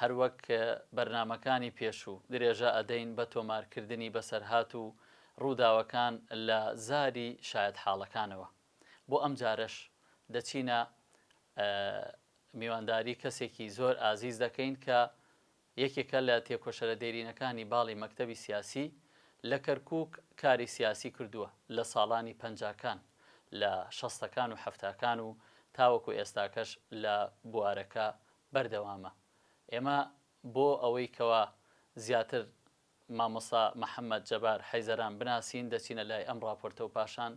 هەروەک بەرنامەکانی پێشوو، درێژە ئەدەین بە تۆمارکردنی بەسەرهات و ڕووداوەکان لە زاری شایەتحاڵەکانەوە. بۆ ئەمجارەش دەچینە میوانداری کەسێکی زۆر ئازیز دەکەین کە یەکێکە لە تێکۆشەرە دێرینەکانی باڵی مەکتەبی سیاسی لە کەرکووک کاری سیاسی کردووە لە ساڵانی پەنجاکان لە شەستەکان و حەفتاکان و تاوەکو ئێستاکەش لە بوارەکە بەردەوامە ئێمە بۆ ئەوەی کەوا زیاتر مامۆستا محمد جبار حیزران بناسین دەچینە لای ئەم ڕاپۆرتە و پاشان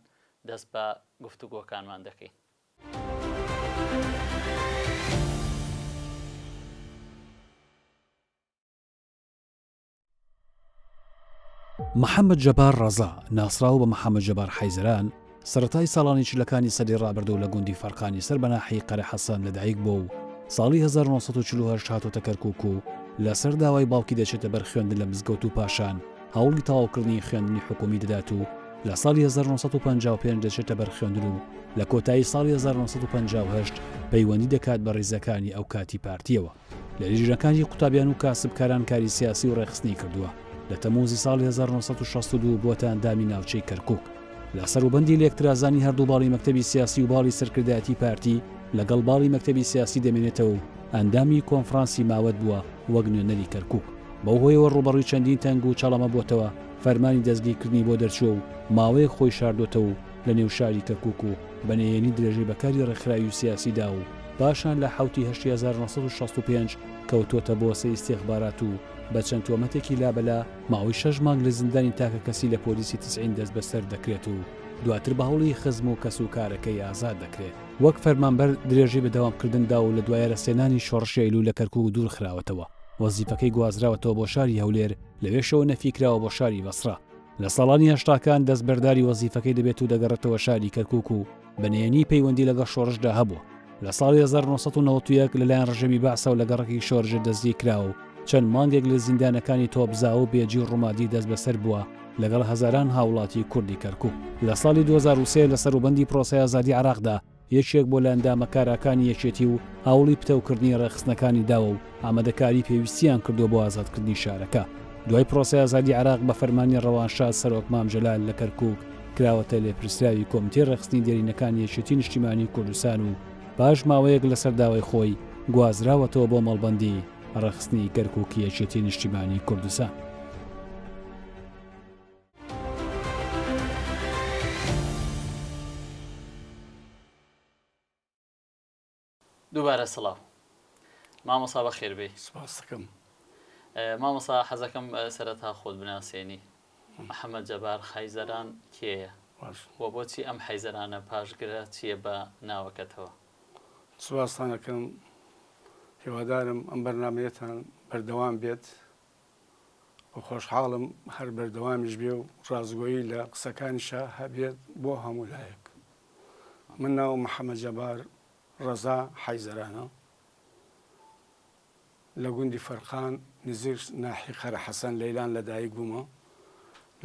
دەست بە گفتوگۆکانمان دەکەین. محەممەد جەبار ڕەزا ناسراو بە محەممەد جەبار حەیزران سەتای ساڵانی چلەکانی سەدی ڕابردوو لە گوندی فەرقانی سەر بەناحی قەرە حەسەن لەدایک بۆ و ساڵی 1940 هاتۆتە کەرکک و لەسەر داوای باوکی دەچێتە بەر خوێندن لە مزگەوت و پاشان هەوڵی تەواوکردنی خوێندنی حکومی دەدات و لە ساڵی 1955 دەچێتە بەر خوێندن و لە کۆتایی ساڵی 1950 پەیوەندی دەکات بە ڕیزەکانی ئەو کاتی پارتیەوە. لە لیژنەکانی قوتابیان و کاسبکاران کاری سیاسی و ڕێخستنی کردووە لە تەموزی ساڵی 1962 بۆتە ئەندامی ناوچەی کەرکک لە سەروبەندی لێکترازانی هەردوو باڵی مەکتتەبی سیاسی و باڵی سەرکردایەتی پارتی لەگەڵ باڵی مەکتتەبی سیاسی دەمێنێتەوە و ئەندامی کۆنفرانسی ماوەت بووە وەک نوێنەری کەرکک بەو هۆیەوە ڕوبەڕووی چەندین تەنگ و چاڵەمە بووتەوە فەرمانی دەستگیرکردنی بۆ دەرچووە و ماوەیەک خۆی شاردۆتەوە و لە نێو شاری کەرکک و بە نهێنی درێژەی بە کاری ڕێکخراوی و سیاسیدا و پاشان لە حەوت ی هەشت ی هەزار و نۆ سەد و شەست و پێنج کەوتووەتە بۆسەی ئیستیخبارات و بە چەند تۆمەتێکی لابەلا، ماوەی شەش مانگ لە زیندانی تاکەکەسی لە پۆلیسی تسعین دەستبەسەر دەکرێت و دواتر بە هەوڵی خزم و کەسوکارەکەی ئازاد دەکرێت. وەک فەرمانبەر درێژەی بە دەوامکردن دا و لە دوای رەسێنانی شۆڕشی ئەیلوول لە کەرکووک دوورخراوەتەوە، وەزیفەکەی گوازراوەتەوە بۆ شاری هەولێر، لەوێشەوە نەفی کراوە بۆ شاری بەسڕە. لە ساڵانی هەشتاکان دەستبەرداری وەزیفەکەی دەبێت و دەگەڕێتەوە شاری کەرکووک و، بە نهێنی پەیوەندی لەگەڵ شۆڕشدا هەبووە لە ساڵی 1991 لەلایەن ڕژەمی باسەوە لە گەڕەکی شۆرژە دەستگی کرا و چەند مانگێک لە زیندانەکانی تۆپزا و بێجی و ڕوومادی دەست بەسەر بووە لەگەڵ هەزاران هاوڵاتی کوردی کەرکوو لە ساڵی 2023 لە سەروبەندی پرۆسەی ئازادی عراقدا یەکێک بۆ لە ئەندامە کاراکانی یەکێتی و هاوڵی پتەوکردنی ڕێخستنەکانی داوە و ئامادەکاری پێویستیان کردووە بۆ ئازادکردنی شارەکە. دوای پرۆسەی ئازادی عێراق بە فەرمانی ڕەوانشاد سەرۆک مام جەلال لە کەرکووک کراوەتە لێپرسراوی کۆمیتەی ڕێکخستنی دێرینەکانی یەکێتی نیشتیمانی کوردستان و پاش ماوەیەک لەسەر داوای خۆی گوازراوەتەوە بۆ مەڵبەندی ڕێکخستنی کەرکووکی یەکێتی نیشتیمانی کوردستان. دووبارە سڵاو مامۆسا بەخێربێی سپاس دەکەم مامۆسا حەزەکەم سەرەتا خۆت بناسێنی محەممەد جەبار حیزەران کێیە و بۆچی ئەم حیزەرانە پاشگرە چییە بە ناوەکەتەوە سپاستانەکەم هیوادارم ئەم بەرنمەیەتان بەردەوام بێت خۆشحاڵم هەر بەردەوامیش بێ و ڕاستگۆیی لە قسەکانیشا هەبێت بۆ هەموو لایەک من ناو محەممەد جەبار ڕەزا حیزەرانە لە گوندی فەرقان نزیک ناحی قەرە حەسەن لەیلان لەدایک بوومە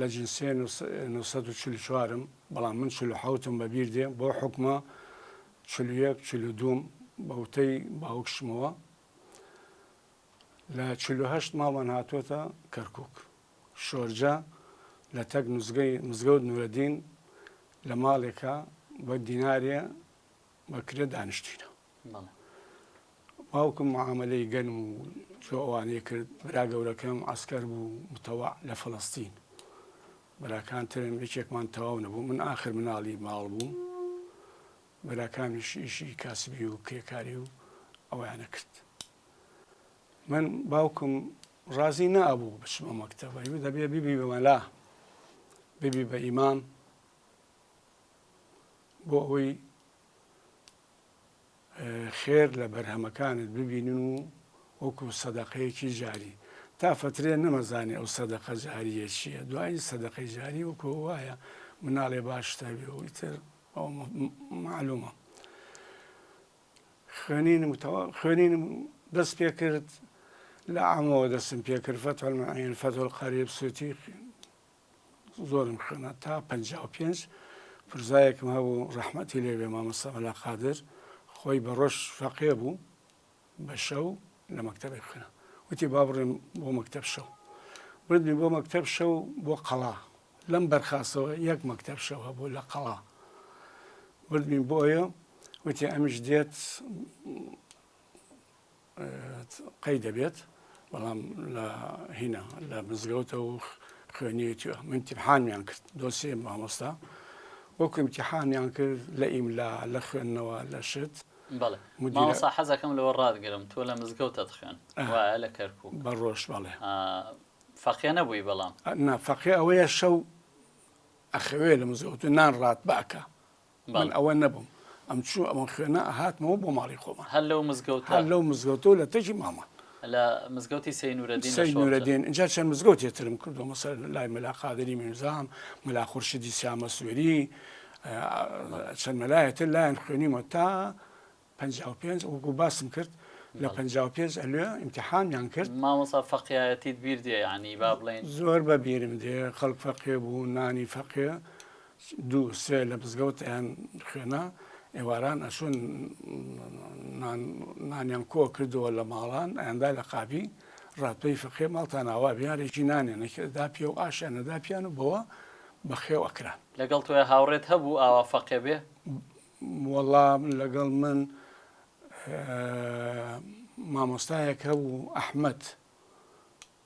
لە جنسێ 1940م بەڵام من چلو حوتم بەبیر دێ بۆ حکومە چلوەک چلو دوم بەوتەی باوکشمەوە لە چل و هەشت ماڵمان هاتووەتە کەرکووک. شۆرجە لە تەک مزگەی مزگەوت نورەدین لە ماڵێکە بە دینارێ بە کرێ دانیشتووینە. بەڵێ. باوکم معامەلەی گەنم و جۆ ئەوانەی کرد. برا گەورەکەم عەسکەر بوو متەوع لە فەڵەستین. براکان ترم یەکێکمان تەواو نەبوو. من ئاخر مناڵی ماڵ بووم. براکانمیش ئیشی کاسبی و کرێکاری و ئەوەیانە کرد. من باوکم ڕازی نابوو بچمە مەکتەبە و دەبێ بیبی بە مەلا ببی بە ئیمام بۆ ئەوەی خێر لە بەرهەمەکانت ببینن و وەکو سەدەقەیەکی جاری تا فترێ نەمەزانێ ئەو سەدەقە جاریە چییە دوایی سەدەقەی جاری وەکو وایە مناڵێ باشتەوێ و ئیتر ئەو معلومە خوێنینم خوێنینم دەست پێ کرد لە عامەوە دەستم پێ کرد فەتح المعین فەتح القریب سوتی زۆرم خوێنە تا پ پێنج پرزایەکم هەبوو ڕەحمەتی لێبێ مامەسەمەلا قادر خۆی بە ڕۆژ فەقێ بوو بە شەو لە مەکتەبێک خوێنم وتی با بڕێم بۆ مەکتەب شەو بردمی بۆ مەکتەب شەو بۆ قەڵا لەم بەرخاستەوە یەک مەکتەب شەو هەبوو لە قەڵا بردمی بۆیە وتی ئەمیش دێت قەی دەبێت بەڵام لە هینا لە مزگەوتە و خوێنیەوە من تیحانیان کرد دۆسیێ مامۆستا وەکو امتحانیان کرد لە ئیملا لە خوێندنەوە لە شت بەڵێ مامۆستا حەزەکەم لەوە ڕاتگرم تۆ لە مزگەوتت خوێند وایە لە کەرکوک بە ڕۆژ بەڵێ فەقێ نەبووی بەڵام نا فەقێ ئەوەیە شەو ئەخەوێ لە مزگەوت نان ڕات بەکە من ئەوە نەبووم ئەم چوو ئەمە خوێنە هاتمەوە بۆ ماڵی خۆمان هەر لەو مزگەوت هەر لەو مزگەوتەوە لە تەکی مامان لە مزگەوتی سەی نورەدین سەی نورەدین جا چەند مزگەوتی ترم کردو مەسەر لای مەلا قادری میرزام مەلا خورشیدی سیامە سوێری چەند مەلایەتر لایەن خوێنیمە تا 55 وەکو باسم کرد لە 55 ئەلێ ئیمتحانیان کرد مامۆسا فەقیایەتیت بیر دێ ینی با بڵێن زۆر بە بیرم دێ خەڵک فەقێ بوو نانی فەقێ دوو سێ لە مزگەوت ئەیان خوێنا ئێواران ئەچون نانیان کۆ کردەوە لە ماڵان ئەیاندا لە قابی ڕاتپەی فقێ ماڵتان ئاوا بیارێکی نانێ نەکردا پێ و ئاشیان نەدا پیان و بەوە بەخێو ئەکران لەگەڵ تۆیە هاوڕێت هەبوو ئاوا فەقێ بێ وەڵام لەگەڵ من مامۆستایەک هەبوو ئەحمد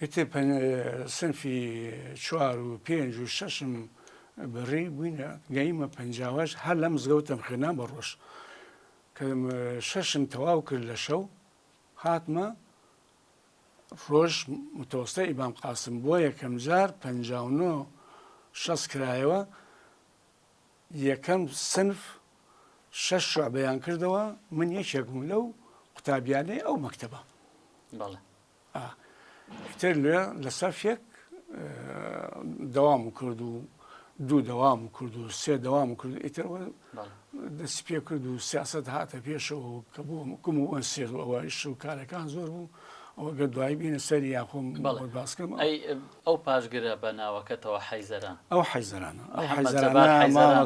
ئیتر سنفی چوار و پێنج و شەشم بڕی بووینە گەیمە پەنجاوەش هەر لەم زگەوتم خوێنان بە ڕۆژ کە شەشم تەواو کرد لە شەو هاتمە ڕۆژ متۆستە ئیبام قاسم بۆ یەکەم جار پ شەست کرایەوە یەکەم سنف شەش شعبەیان کردەوە من یەکێکم لەو قوتابیانەی ئەو مەکتتەبە بەڵێ ئا ئیتر لێ لە سەفێک دەوام و کرد و دوو دەوام و کرد و سێ دەوام و کرد ئیتر دەست پێ کرد و سیاست هاتە پێشەوە کە بۆ کم و ئەن سێر و ئەوەش و کارەکان زۆر بوو ئەوگە دوایی بینە سەری یاخۆم باسکەم ئەو پاشگرە بە ناوەکەتەوە حیزەران ئەو حیزەرانە ئەو حیزەرانە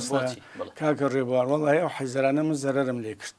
کاکە ڕێبوار وڵی ئەو حیزەرانە من زەرم لێ کرد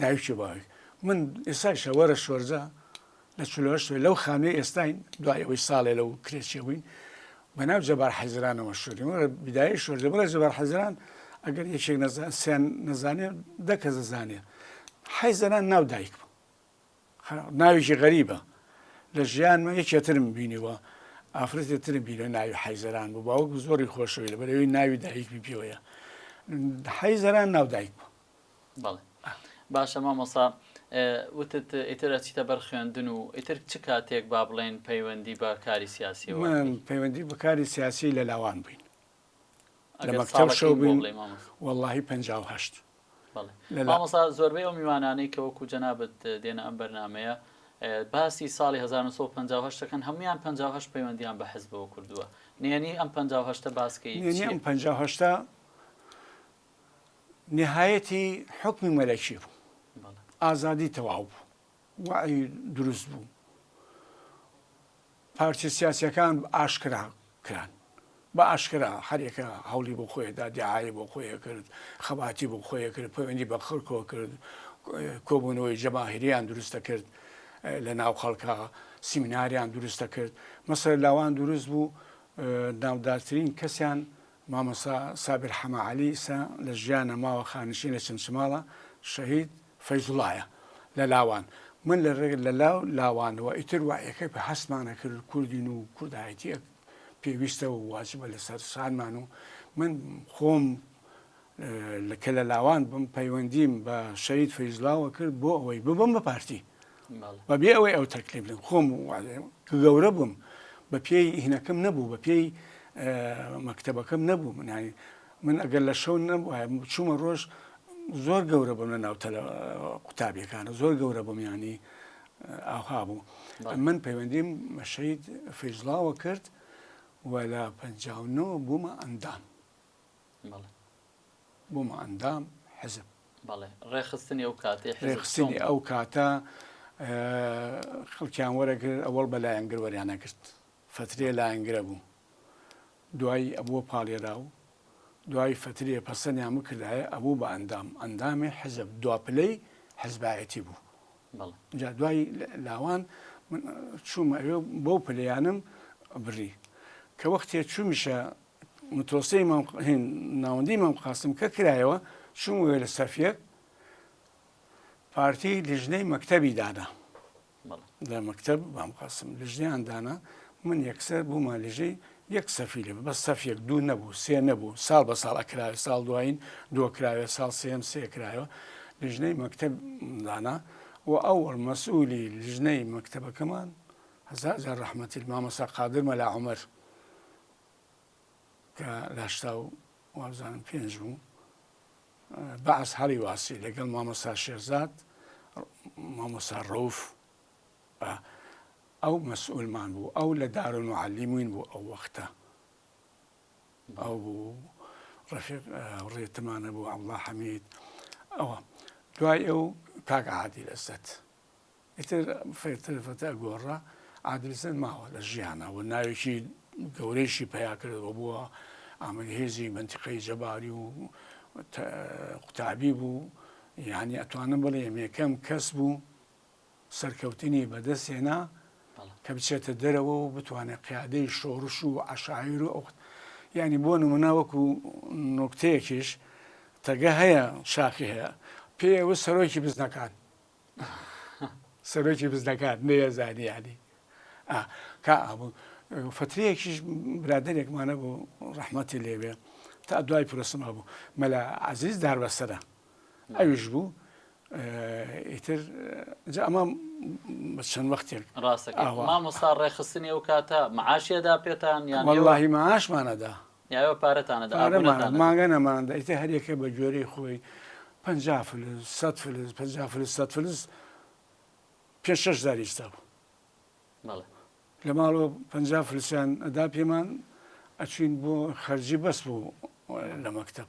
دایک و باوک من ئێستایشە وەرە شۆرجە لە چل و هەشت وێ لەو خانووی ئێستاین دوای ئەوەی ساڵێ لەو کرێچێ بووین بە ناو جەبار حەیزرانەوە مەشهوورین وەرە بدایەی شۆرجە بڵێ جەبار حەیزران ئەگەر یەکێک نەزان سیان نەزانێ دە کەس دەزانێ حەیزران ناو دایک بوو خە- ناوێکی غەریبە لە ژیانمە یەکێترم بینیوە ئافرەتی ترم بینە ناوی حەیزران بوو باوەکم زۆری خۆشەوی لە بەرەوەی ناوی دایکمی پێوەیە حەیزران ناو دایک بوو بەڵێ باشە مامۆسا وتت ئیتر ئەچیتە بەر خوێندن و ئیتر چ کاتێک با بڵێن پەیوەندی بە کاری سیاسی پەیوەندی بەکاری سیاسی لە لاوان بووین لە مەکتەب شەو بووین واللهی پ مامۆسا زۆربەی ئەو میوانانەی کە وەکو جەنابەت دێنە ئەم بەرنمەیە باسی ساڵی 1950ەکەن هەمویان 50 پەیوەندیان بە حزبەوە کردووە نێنی ئەم 50 باسکەی 50 نیهایەتی حوکمی مەلەکی بوو ئازادی تەواو بوو وعی دروست بوو پارچە سیاسەکان ئاشکرا کران بە ئاشکرا هەرێکە هەوڵی بۆ خۆیدا دیعاە بۆ خۆیە کرد خەباتی بۆ خۆیە کرد پەیوەندی بە خەرکۆ کرد کۆبوونەوەی جەماهریان دروستە کرد لە ناو خەڵکە سیمیناریان دروستە کرد مەسەر لاوان دروست بوو ناودارترین کەسیان مامۆستا سابر حەمە عەلی سە لە ژیان نە ماوە خانشین لە چەمچماڵە شەهید فەیزوڵایە لە لاوان من لە رێ لە لا لاوان وە ئیتر وە یەکە پێ هەستمانە کرد کوردین و کوردایەتیە پێویستە و واجبە لە سەر شانمان و من خۆم کە لە لاوان بووم پەیوەندیم بە شەهید فەیزلاوە کرد بۆ ئەوەی ببم بە پارتی بەبێ ئەوەی ئەو تەکلیف لێم خۆم کە گەورە بووم بە پێی هینەکەم نەبوو بە پێی مەکتتەبەکەم نەبوو منانی من ئەگەر لە شەو نەبوو چوومە ڕۆژ زۆر گەورە بووم لە ناوتە لە قوتابیەکانە زۆر گەورە بووم ینی ئاها بوو من پەیوەندیم مەشەید فەیزلاوە کرد و لە پنجاونەوە بوومە ئەندام بەڵێ بووم ئەندام حزب. بەڵێ ڕێخستنی ئەو کاتەی حزب ڕێخستنی چۆن بوو؟ ئەو کاتە خەڵکیان وەرەگرت ئەوەڵ بە لایەنگر وەریانە گرت فەترێ لایەنگرە بوو دوایی ئەبووە پاڵێرا و دوای فەترێ پەسەنیان بکردایە ئەبوو بە ئەندام ئەندامی حزب دوا پلەی حزبایەتی بوو بەڵێ جا دوای لە- لاوان من چوومە ئەوێ و بەو پلەیانم بڕی کە وەختێ چوومیشە متوەستی مام هین ناوەندی مام قاسم کە کرایەوە چوم وێ لە سەفیەک پارتی لیژنەی مەکتەبی دانا لە مەکتب مام قاسم لیژنیان دانا من یەکسەر بوومە لیژەی یەک سەفی لێ بە سەفیەک دوو نەبوو سێ نەبوو ساڵ بە ساڵ ئەکراوێ ساڵ دوایین دۆکراوێ ساڵ سێم سێ کرایەوە لیژنەی مەکتب دانا و ئەوەڵ مەسئولی لیژنەی مەکتەبەکەمان هەزار جار ڕەحمەتی مامەسا قادر مەلا عمر کە لاشتا و وابزانم پێنج بوو بەعس هەڵی واسی لەگەڵ مامۆسا شێرزاد مامۆسا ڕوف ئەو مەسئولمان بوو ئەو لە دارون و علیموین بوو ئەو وەختە ئەو بوو ڕفێک ڕێتمانە بوو ئەڵا حەمید ئەوە دوای ئەو کاک عادی لەزەت ئیتر فێرتر فەتا گۆڕا ئادلسەن ماوە لە ژیانە و ناوێکی گەورەیشی پیاکردەوە بووە ئامەری هێزی بنتیقەی جەباری و قوتابی بوو یعنی ئەتوانم بڵێ یەکەم کەس بوو سەرکەوتنی بەدەستێنا کە بچێتە دەرەوە و بتوانێت قیادەی شۆڕش و عشایر و ئەوخت ینی بۆ نمونە وەکو نوکتەیەکیش تەگە هەیە شاخی هەیە پێوە سەرۆکی بزنەکان سەرۆکی بزنەکان نەیەزانی یعنی ئا کا ئابوو فترەیەکیش برادێکمانە بوو ڕەحمەتی لێبێ تا دوای پرۆسما بوو مەلا عزیز داربەسەرە ئەویش بوو ئیتر جا ئەمە بە چەند وەختێک ڕاستەکە ئاوا. مامۆستا ڕێخستنی ئەو کاتە معاشیەدا پێتان یان واللهی معاشمانەدا یاێوە پارەتان ئەدا ئابوورتان ئەدا. پارەمان ئەدا، مانگا نەمان ئەدا، ئیتر هەر یەکە بە گوێرەی خۆی پەنجا فلس، سەد فلس، پەنجا فلس، سەد فلس، پێنج شەش جار ئیستا بوو. بەڵێ. لە ماڵەوە پەنجا فلسیان ئەدا پێمان، ئەچووین بۆ خەرجی بەس بوو لە مەکتەب.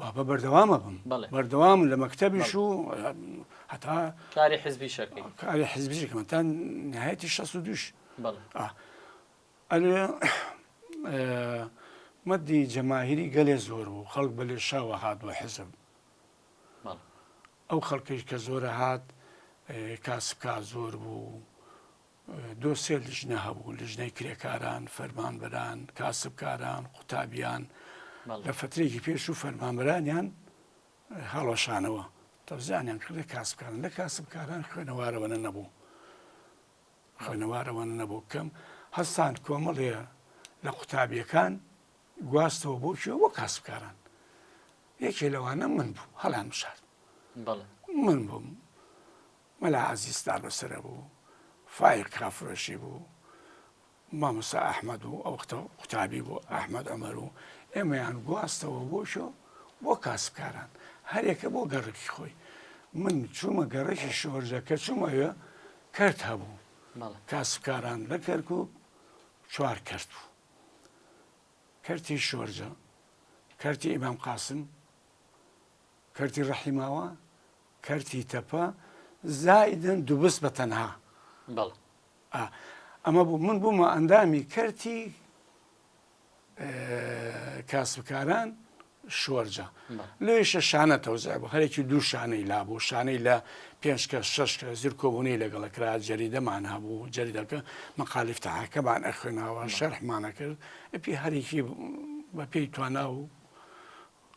بابە بەردەوام ئەبم بەڵێ. بەردەوام لە مەکتەبیش و هەتا کاری حزبیش ئەکەی. کاری حزبیش ئەکەم تا نهایەتی شەست و دووش بەڵێ. ئەلێ مەدی جەماهیری گەلێ زۆر بوو خەڵک بە لێشاوە هات بۆ حزب بەڵێ. ئەو خەڵکیش کە زۆرە هات کاسبکار زۆر بوو دو سێ لیژنە هەبوو، لیژنەی کرێکاران، فەرمانبەران، کاسبکاران، قوتابیان، لە فەترەیەکی پێش و فەرمانبەرانیان هەڵوەشانەوە، تەوزیعانیان کردە کاسبکاران، لە کاسبکاران خوێنەوارەوەنە نەبوو، خوێنەوارەوەنە نەبوو، کەم هەستان کۆمەڵێ لە قوتابیەکان گواستەوە بۆ کوێ بۆ کاسبکاران، یەکێ لەوانە من بووم هەڵیان بژارد، من بووم مەلا عەزیز تابەسەرە بوو، فایق کافرۆشی بوو، مامۆستا ئەحمەد و ئەو وەختە قوتابی بوو ئەحمەد عومەر و ئێمەیان گواستەوە بۆ شۆ بۆ کاسبکاران هەرێکە بۆ گەڕەکی خۆی من چوومە گەڕەکی شۆرجە کە چوومەوێ کەرت هەبوو کاسبکاران لە کەرکک چوار کەرت بوو کەرتی شۆرجە کەرتی ئیمام قاسم کەرتی ڕەحیماوە کەرتی تەپە زایدن دوبس بە تەنها. بەڵ. ئا. ئەمە بوو من بوومە ئەندامی کەرتی کاسبکاران شوەرجە لێشە شانە تەوزای بۆ هەرێکی دوو شانەی لا بۆ شانەی لە پێنج کە شش کە زیر کۆبوونی لەگەڵە کرا جەریدەمان هەبوو جەریدەکە مەقالیفتەهاکەمان ئەخوێناوە شەرحمانە کرد ئەپی هەرێکی بە پێی توانا و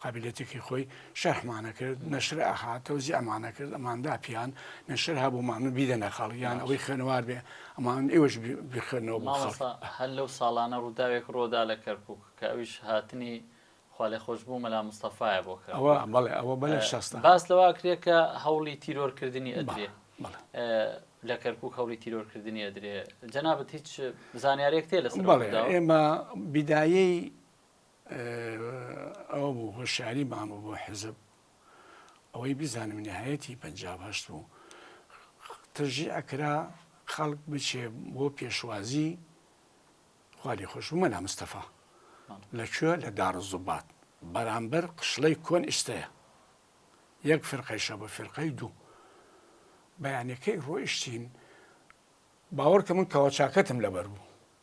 قابیلیەتێکی خۆی شەرحمان ئەکرد نەشر ئەهات تەوزیعمان ئەکرد ئەمان داپیان نەشر هەبوومان من بیدەنە خەڵک یان ئەوەی خوێنەوار بێ ئەمان ئێوەش بخوێنەوە بۆ خەڵک. مامۆستا هەر لەو ساڵانە ڕووداوێک ڕۆدا لە کەرکووک کە ئەویش هاتنی خوالێخۆشبوو مەلا مستەفایە بۆ کەرکووک. ئەوە بەڵێ ئەوە بە لە شەستا. باس لەوە ئەکرێ کە هەوڵی تیرۆرکردنی ئەدرێ. بەڵێ. لە کەرکووک هەوڵی تیرۆرکردنی ئەدرێ. جەنابت هیچ زانیارییەکت هەیە لەسەر ئەو ڕووداوە؟ بەڵێ ئێمە بیدایەی ئەوە بوو هۆشیاری مامە بۆ حزب ئەوەی بزانم نهایەتی پەنج هەشت بوو ترژی ئەکرا خەڵک بچێ بۆ پێشوازی خولی خۆش بوو مەلا مستەفا لەکوێ لە داڕ زوبات بەرامبەر قشڵەی کۆن ئیستەیە یەک فرقەیشە بە فرقەی دوو بەیانەکەی ڕۆیشتین باوەڕکە من کەەوە چاکەتم لەبەر بوو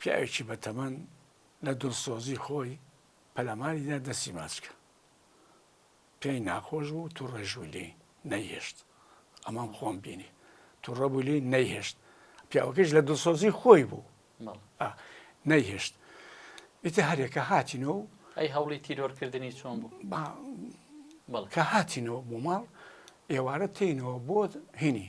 پیاوێکی بەتەمەن لە دڵسۆزی خۆی پەلاماریدا دەستی ماچکە پێی ناخۆش بوو تو ڕێژوو لێ نەیهێشت ئەمام خۆم بینی تو ڕەبوو لێ نەیهێشت پیاوەکەش لە دڵسۆزی خۆی بوو نەیهێشت ئیتە هەرێکە هاتینەوە و ئەی هەوڵی تیرۆرکردنی چۆن بوو بەڵکە هاتینەوە بۆ ماڵ ئێوارە تینەوە بۆ هینی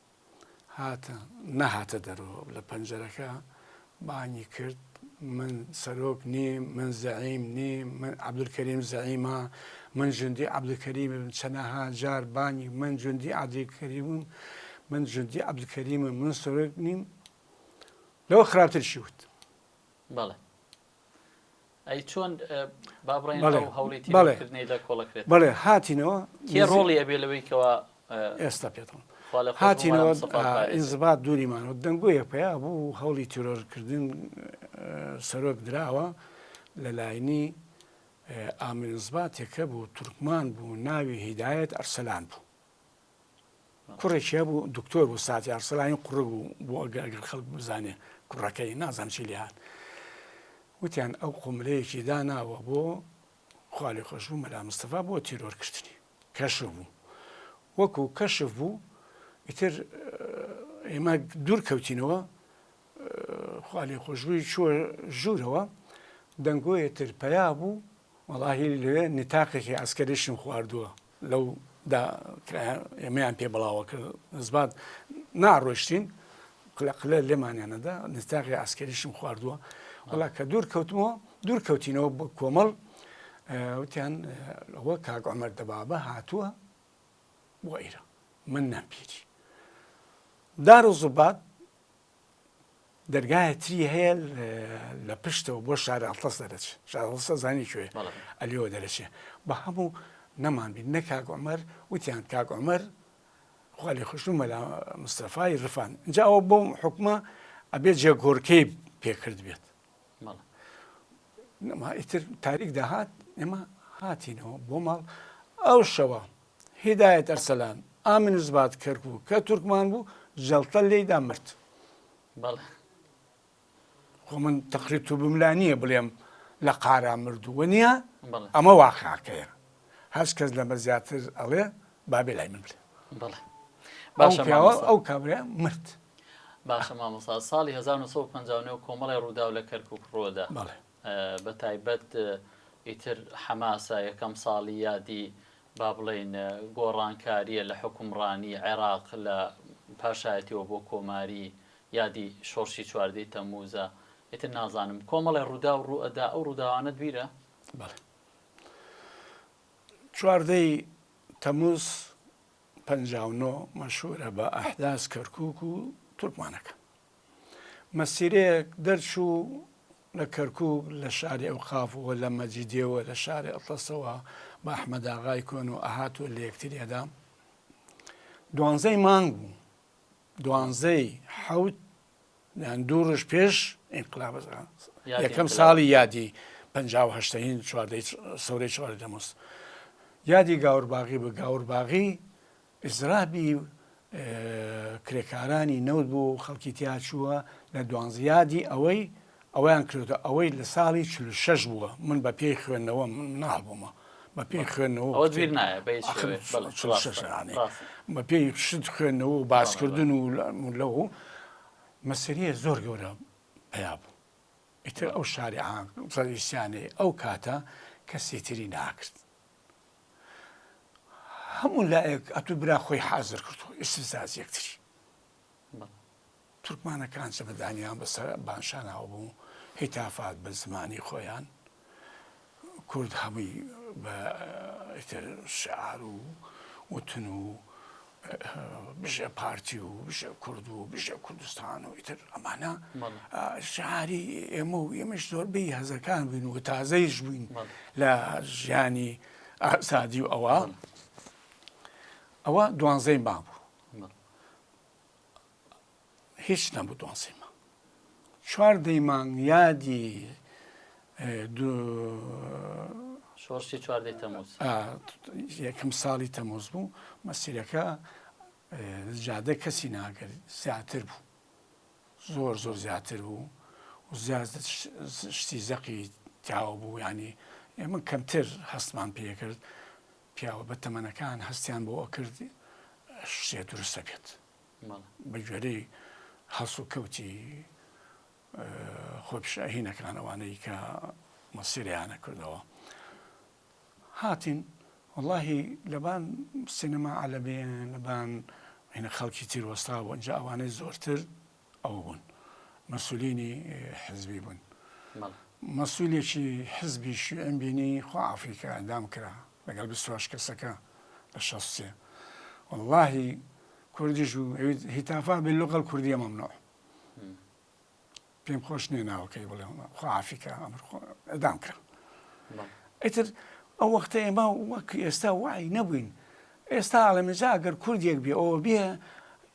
هاتە نەهاتە دەرۆ لە پەنجەرەکە بانگی کرد من سەرۆک نیم من زەعیم نیم من عبدولکەریم زەعیمە من جندی عبدکەریم چەنەها جار بانگی من جندی عادیکەریمم من جندی عبدکەریمە من سەرۆک نیم لەوە خراپتر شیوت بەڵێ ئەی چۆن با بڵێن بەڵێ، ئەو هەوڵی بەڵێ. تیرۆرکردنەی لە کۆڵە کرێت؟ بەڵێ هاتینەوە کێ نزیک- ڕۆڵی ئەبێ لەوەی کەوا ئێستا پێت دەڵێم. خوا لە خۆت بمانە هاتینەوە مستەفا ئا، پارێزە. ئینزبات دووری مانەوە دەنگۆیەک پەیا بوو هەوڵی تیرۆرکردن ئە، سەرۆک دراوە لە لاینی ئا، ئامرینزباتێک هەبوو تورکمان بوو ناوی هیدایەت ئەرسەلان بوو. کوڕێکی هەبوو دکتۆر بوو ساتی ئارسەلانی قوڕگ بوو بۆ ئەگە ئەگەر خەڵک بزانێ کوڕەکەی نازان چی لێ هاات وتیان ئەو قوملەیەکی داناوە بۆ خالی خۆش بوو مەلا مستەفا بۆ تیرۆرکردنی کەشف بوو وەکو کەشف بوو ئیتر ئێمە دوور کەوتینەوە خالی خۆشبووی چوە ژوورەوە دەنگۆیە تر پیا بوو وەڵاهی لێ نتاقێکی ئاسکەریشم خواردووە لەو دا ئێمەیان پێ بڵاوە کرد نزبات ناڕۆشتین قلە قلە لێمانیانەدا نستاغی ئاسکەریشم خواردووە وڵا کە دوور کەوتمەوە دوور کەوتینەوە بۆ کۆمەڵ وتیان ئەوە کاک ئەمەر دەبابە هاتووە بۆ ئێرە من نامپیری دار و زوبات دەرگایە تری هەیە لە پشتەوە بۆ شارە ئەڵتەس دەرەچ شارڵسە زانی کوێ ئەلیەوە دەرەچێ بە هەموو نەمان بین نە کاک عمر وتیان کاک عمر خالی خوشتون مەلا مستەفای ڕفان جاوە بۆ حکومە ئەبێ جێ گۆرکەی پێکرد بێت ئیتر تاریک داهات ئێمە هاتینەوە بۆ ماڵ ئەو شەوە هیدایەت ئەرسەلان، ئامنزباد کەرکووک، کە تورکمان بوو، جەڵتە لێی دا مرد. بەڵێ. خۆ من تەقریر توبم لا نییە بڵێم لە قارا مردوو، وەنییە؟ بەڵێ. ئەمە واقعەکەیە. هەچ کەس لەمە زیاتر ئەڵێ، با بێ لای من بلێ. بەڵێ. باشە مامۆستا. ئەو پیاوە، ئەو کابرایە مرد. باشە مامۆستا، ساڵی هەزار و نۆ سەد و پەنجا و نۆ کۆمەڵێ ڕووداو لە کەرکووک ڕوودا. بەڵێ. بە تایبەت ئیتر حەماسە یەکەم ساڵی یادی با بڵێین گۆڕانکارییە لە حوکمڕانی عێراق لە پاشایەتیەوە بۆ کۆماری یادی شۆڕشی چواردەی تەموزە ئیتر نازانم کۆمەڵی ڕوودا و ڕوئەدا ئەو ڕووداوانە دویرە چواردەی تەموز پ مەشورە بە ئەحداس کەرکک و تورکمانەکە مەسیرەیەک دەرچوو لە کەرکووک لە شاری ئەوقاف و لە مەجیدێ و لە شاری ئەتڵەسەوە بە ئەحمەداغای کۆن و ئەهات و لە یەکتریدا دوانزەی مانگ بوو دوانزەی حەوت یان دوو ڕژ پێش ئینقلاب یەکەم ساڵی یادی پهشتین چواردەی سەورەی چوار دەموس یادی گاورباغی بە گاورباغی ئیزرابی و کرێکارانی نەوت بوو و خەڵکی تیاچووە لە دوانزیادی ئەوەی ئەویان کرێتە ئەوەی لە ساڵی چل و شەش بووە من بە پێی خوێندنەوە مناڵ بوومە بە پێی خوێندنەوە ئەوە دویر نایە بە هیچ ئاخر شێوەیەک. بەڵێ، چل و ڕاستە، شەش یانێ. ڕاستە. بە پێی شت خوێندنەوە و باسکردن و لە- و لەو مەسەریە زۆر گەورە پیا بوو ئیتر ئەو شاری عام ڕەئیسیانەی ئەو کاتە کەسی تری ناکرد هەموو لایەک ئەتوو برا خۆی حازر کردو ئیسفزاز یەکتری تورکمانەکان چەمەدانیان بەسەر بانشانەوە بوو هیتافات بە زمانی خۆیان کورد هەمووی بە شعار و وتن و بژە پارتی و بژە کورد و بژە کوردستان و ئیتر ئەمانە شعاری ئێمە و ئێمەش زۆر بی هەزەکان بووین و تازەیش بووین لە ژیانی ئازادی و ئەوە ئەوە دوانزەی ما بوو هیچ نەبوو دوازدەی مانگ چواردەی مانگ یادی شۆڕشی چواردەی تەموز یەکەم ساڵی تەمۆز بوو مەسیرەکە جادە کەسی ناگەر زیاتر بوو زۆر زۆر زیاتر بوو و زیاد شتی زەقی تیاوە بوو ینی ئێمە کەمتر هەستمان پێکرد پیاوە بە تەمەنەکان هەستیان بۆ ئەکرد شتێ دروستە بێت بە گوێرەی هەڵسوکەوتی خۆپیشاهینەکان ئەوانەی کە مەسیرەیانە کردەوە هاتین واللهی لەبان سینەما عەلەبێن لەبان هینە خەڵکی تیر وەستا بۆ ئەجا ئەوانەی زۆرتر ئەو بوون مەسولینی حزبی بوون مەسولێکی حزبی شوێن بینی خۆ ئافریکا دام کرا لەگەڵ بیست و هەشت کەسەکە لە شەست و سێ واللەهی کوردیش و ئەویت هیتافا بێ لغە الکوردیە مەمنوع پێم خۆش نییە ناوەکەی بڵێ خوافیکە ئەمر ئەدام کرا ئیتر ئەو وەختە ئێمە وەک ئێستا وای نەبووین ئێستا ئاڵەمەجا گەر کوردێک بێ ئەوە بێ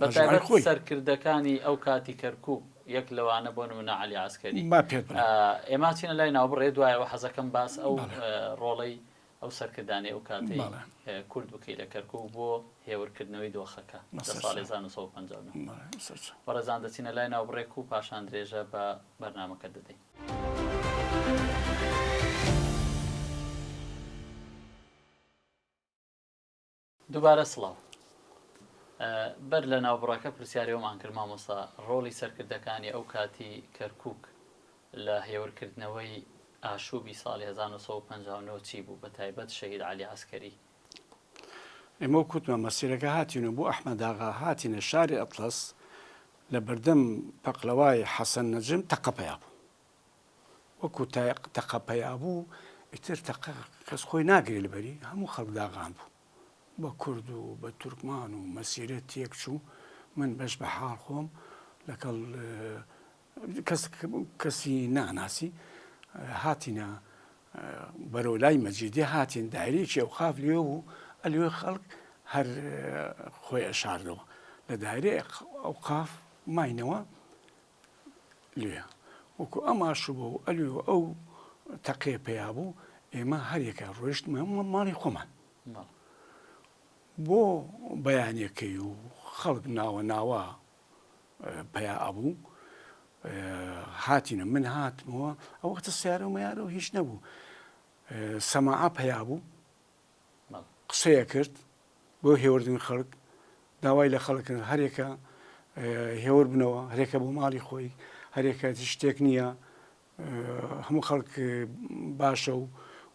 بەتایبەت سەرکردەکانی ئەو کاتی کەرکوک یەک لەوانە بۆ نمونە عەلی عەسکەری ئێما چینە لای ناوبڕێ دوایەوە حەزەکەم باس ئەو ڕۆڵەی ئەو سەرکردانی ئەو کاتی کورد بکەی لە کەرکک بۆ هێورکردنەوەی دۆخەکە بەڕێزان دەچینە لای ناوبڕێک و پاشان درێژە بە بەرنمەکە دەدەین. دوبارە سڵاو بەر لە ناوبڕەکە پرسیاری ئەومان کرد مامۆستا ڕۆڵی سەرکردەکانی ئەو کاتی کەرکک لە هێورکردنەوەی ئاشوبی ساڵی 1950 چی بوو بە تایبەت شەهید علی عسکەری ئێمە کوتمە مەسیرەکە هاتین و بۆ ئەحمەداغا هاتینە شاری ئەتلەس لە بەردەم پەقلەوای حەسەن نەجم تەقەپیا بوو وەکو تایەق تەقە پەیا بوو ئیتر تەقە کەس خۆی ناگری لەبەری هەموو خەڵک داغان بوو بە کورد و بە تورکمان و مەسیرە تێک چوو من بەش بە حاڵ خۆم لەگەڵ کەسی ناناسی هاتینە بەرەو لای مەجیدی هاتین دایرێکی ئەو قاف لێ و ئەلوێ خەڵک هەر خۆی ئەشاردەوە لە دایرێ ئەو قاف ماینەوە لێ وەکو ئەم ئاشوبە و ئەلێ و ئەو تەقێ پیا بوو ئێمە هەریەکە ڕۆیشتمە ماڵی خۆمان بۆ بەیانەکەی و خەڵک ناوە ناوە پیا ئەبوو هاتینە من هاتمەوە ئەو وەختە سیارە و میارە و هیچ نەبوو سەماعە پیا بوو قسەیە کرد بۆ هێوردن خەڵک داوای لە خەڵک کرد هەرێکە هێور بنەوە هەرێکە بۆ ماڵی خۆی هەرێکە شتێک نییە هەموو خەڵک باشە و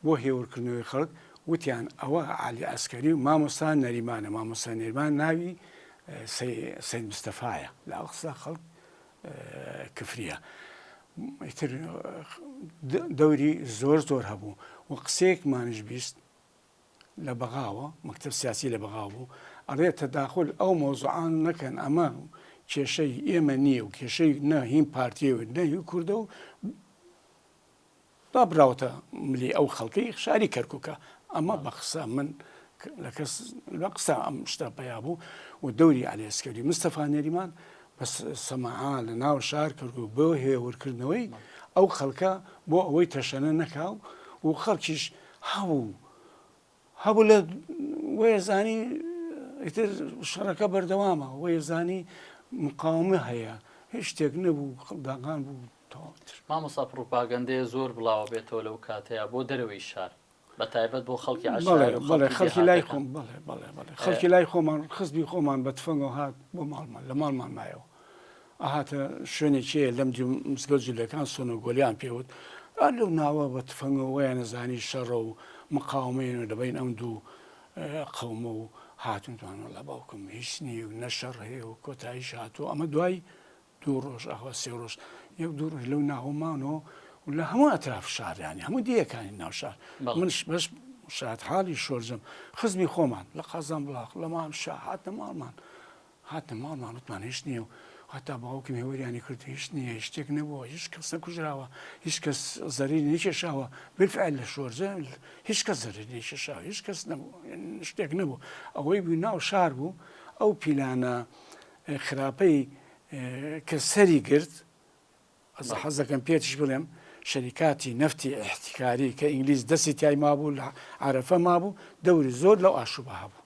بۆ هێورکردنەوەی خەڵک وتیان ئەوە عالی ئەسکەری و مامۆستا نەریمانە مامۆستا نێرمان ناوی سید مستەفاایە لە ئەوقسا خەڵک کفریە ئیتر دەوری زۆر زۆر هەبوو و قسەیەکمانش بیست لە بەغاوە مەکتب سیاسی لە بەغاو بوو ئەڵێ تەداخل ئەو مۆزعان نەکەن ئەمە کێشەی ئێمە نییە و کێشەی نە هیم پارتی و نەهی کوردە و با براوەتە ملی ئەو خەڵکەی شاری کەرکوکە ئەمە بە قسە من لە کەس لە قسە ئەم شتە پیا بوو و دەوری ئالێسکەری مستەفا نەریمان بە سەماعا لە ناو شار کەرکک بۆ هێورکردنەوەی ئەو خەڵکە بۆ ئەوەی تەشەنە نەکاو و خەڵکیش هەبوو هەبوو لە وەیە زانی ئیتر شەڕەکە بەردەوامە وەیە زانی مقاومە هەیە هیچ شتێک نەبوو خەڵداغان بوو تەواوتر مامۆسا پڕوپاگەندەیە زۆر بڵاوە بێتەوە لەو کاتەیە بۆ دەرەوەی شار بە تایبەت بۆ خەڵکی عەشار بەڵێ و بەڵێ خەڵکی خەڵکی لای دێهاتەکان. خۆم بەڵێ بەڵێ بەڵێ خەڵکی لای خۆمان خزبی خۆمان بە تفەنگەوە هات بۆ ماڵمان لە ماڵمان مایەوە ئەهاتە شوێنێکی هەیە لەم دوو مزگەوت جولەکان سۆنۆ گۆلیان پێ وت، ئا لەو ناوە بە تفەنگەوە وایانە زانی شەڕە و مقاومەیە لە بەین ئەم دوو قەومە و هاتن دوان وەڵا باوکم هیچ نییە و نە شەڕ هەیە و کۆتاییش هاتووە ئەمە دوای دوو ڕۆژ ئاوا سێ ڕۆژ یەک دوو ڕۆژ لەو ناوە مانەوە و لە هەموو ئەتراف شار یانی هەموو دیەکانی ناو شار منش بەش شاد حالی شۆرجم خزمی خۆمان لە قازان بڵاق لە مام شا هاتنە ماڵمان هاتنە ماڵ مان وتمان هیچ نییە و هەتا باوکم هێوریانی کرد هیچ نییە هیچ شتێک نەبووە هیچ کەس نەکوژراوە هیچ کەس زەریری نەکێشاوە بالفعل لە شۆرجە هیچ کەس زەریری نەکێشاوە هیچ کەس نەبوو شتێک نەبوو ئەوەی بوو ناو شار بوو ئەو پیلانە خراپەی کە سەری گرت ئەزە حەز دەکەم پێتیش بڵێم شەریکاتی نەفتی ئیحتیکاری کە ئینگلیز دەستی تای مابوو لە عەرەفە مابوو دەوری زۆر لەو ئاشوبە هەبوو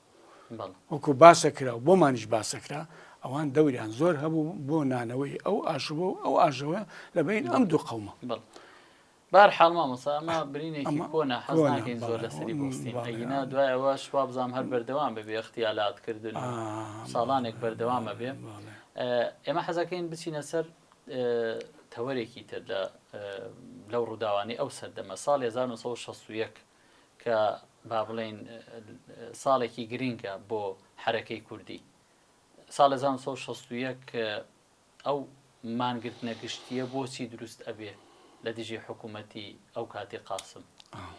وەکو باسە کرا و بۆمانیش باسە کرا ئەوان دەوریان زۆر هەبوو بۆ نانەوەی ئەو ئاشوبە و ئەو ئاژەوە لە بین ئەم دوو قەومە. بەهەرحاڵ مامۆستا ئەمە برینێکی کۆنە حەز ناکەین زۆر لەسەری بوەستین ئەگینا دوای ئەوەش وابزانم هەر بەردەوام ببێ اغتیالات کردن و ساڵانێک بەردەوام ئەبێ ئێمە حەزەکەین بچینە سەر تەوەرێکی تر لە لەو ڕووداوانی ئەو سەردەمە ساڵی 1960 کە با بڵێین ساڵێکی گرینگە بۆ حرەکەی کوردی ساڵ 1960 ئەو مانگرتنە گشتیە بۆچی دروست ئەبێ لە دژی حکومەتی ئەو کاتی قاسم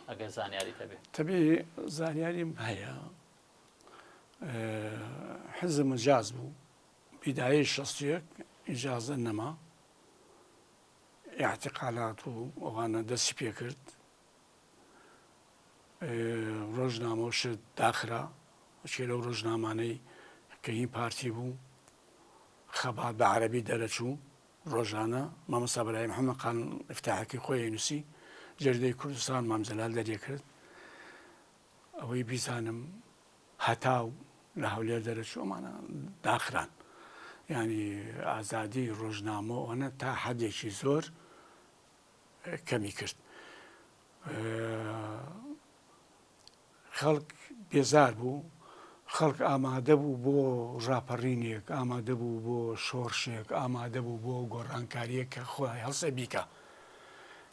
ئەگەر زانیاریت هەبێ؟ تەبێ زانیاریم هەیە حزب مجاز بوو بیدایە شەستێک ئیجازە نەما اعتقالات و ئەوانە دەستی پێ کرد ڕۆژنامە و شت داخرا چێ لەو ڕۆژنامانەی کە هی پارتی بوو خەبات بە عەربی دەرەچوو ڕۆژانە مامەسا بەرایم حەمەقان افتاحەکەی خۆی نووسی جێردەی کوردستان مامجلال دەرێ کرد ئەوەی بیزانم هەتا و لە هەولێر دەرەچوومانە داخران ینی ئازادی ڕۆژنامە ئەوەنە تا حەدێکی زۆر کەمی کرد خەڵک بێزار بوو خەڵک ئامادە بوو بۆ ڕاپەڕینێک ئامادە بوو بۆ شۆڕشێک ئامادە بوو بۆ گۆڕانکاریەک کە خۆی هەڵسە بیکە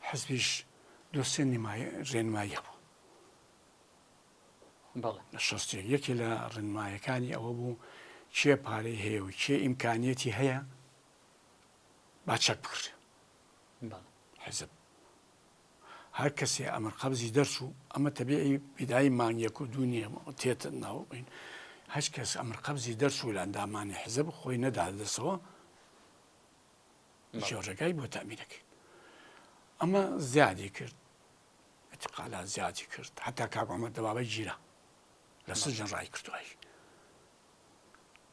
حزبیش دۆسێن ڕێنماییە بوو شستێ یەکێ لە ڕێنمایەکانی ئەوە بوو کێ پارەی هەیە و کێ ئیمکانیەتی هەیە با چەک بکرێت حیزب هەر کەسێ ئەمر قەبزی دەرچوو ئەمە تەبیعی بیدایی مانگ یەک و دوو نییە تێت ناوین هەچ کەس ئەمر قەبزی دەرچوو لە ئەندامانی حیزب خۆی نەدا دەسەوە جۆرەکای بۆ تامیرەکەی ئەمە زیادی کرد اتقالا زیادی کرد حتا کاکۆمە دەبابە گیرە لە سجن ڕای کردوایش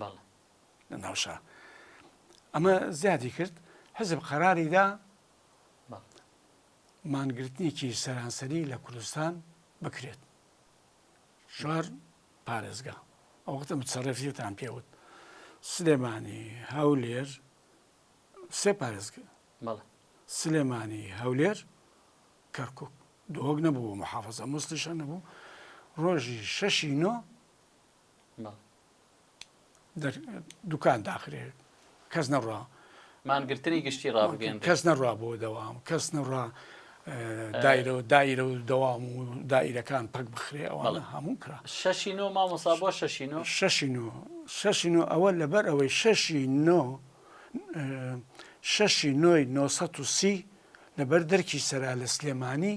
بەڵێ. لە ناو شار. ئەمە زیادی کرد حزب قەراری دا مانگرتنێکی سەرانسەری لە کوردستان بکرێت. شار پارێزگا ئەوەختە متسەڕێفیتان پێوت سلێمانی هەولێر سێ پارێزگە سلێمانی هەولێر کەرکک دۆک نەبوو محافظە مستیشە نەبوو ڕۆژی شەشی نۆ دوکان داخرێ کەس نەڕوا مانگرتنی گشتی ڕابگەن کەس نەڕوا بۆ دەوام کەس نەڕا دایرە و دایرە و دەوام و دایرەکان پەک بخرێ ئەوانە هەموو کرا شەشی نۆ مامۆسا بۆ شەشی نۆ شەشی نۆ شەشی نۆ ئەوە لەبەر ئەوەی شەشی نۆ شەشی نۆی 930 لەبەر دەرکی سەرا لە سلێمانی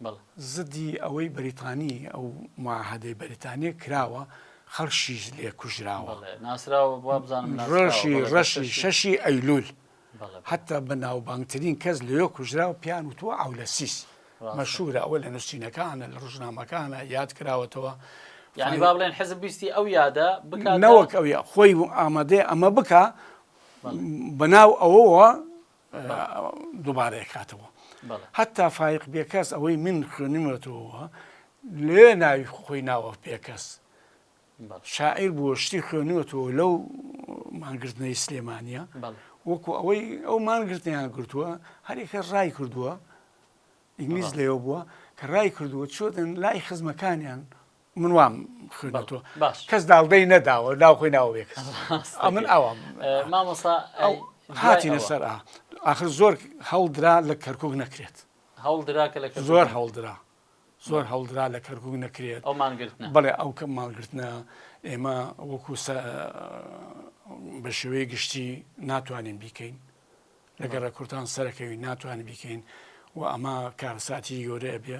بەڵ زدی ئەوەی بەریتانی ئەو معاهەدەی بەریتانیە کراوە خەڵکشیش لێ کوژراوە ڕۆژی ڕەشی شەشی ئەیلول حتا بە ناوبانگترین کەس لەێ کوژرا و پیان وتوە عولەسیس مەشورە ئەوە لە نووسینەکانە لە ڕژنامەکانە یاد کراوەتەوە یعنی با بڵێن حزب ویستی ئەو یادە بکەنەوەک ئەوە خۆی ئامادەێ ئەمە بکە بەناو ئەوەوە دوبارە ئەکاتەوە هەتا فایق بێکەس ئەوەی من خوێنمەتەوە لێ ناوی خۆی ناوە پێکەس شاعیر بووە شتی خوێنوەتەوە لەو مانگرتنەی سلێمانە وەکو ئەوەی ئەو مانگرتنیان گرتووە هەرێکە ڕای کردووە ئینگلیز لێەوە بووە کە ڕای کردووە چۆتن لای خزمەکانیان من وام خوێنە تۆ باش کەس داڵدەی نەداوە ناو خۆی ناوە بێ کەس من ئەوام مامۆسا ئەو هاتینە سەر ئاخر زۆر هەڵدرا لە کەرکک نەکرێت هەڵدرا کە لە زۆر هەڵدرا زۆر هەڵدرا لە کەرکک نەکرێت ئەو مانگرتن بڵێ ئەو کە مانگرتنە ئێمە وەکو بە شێوەی گشتی ناتوانین بیکەین لەگەر ڕە کورتان سەرەکەوی ناتوانین بیکەین و ئەمە کارساتی گەورەیە بێ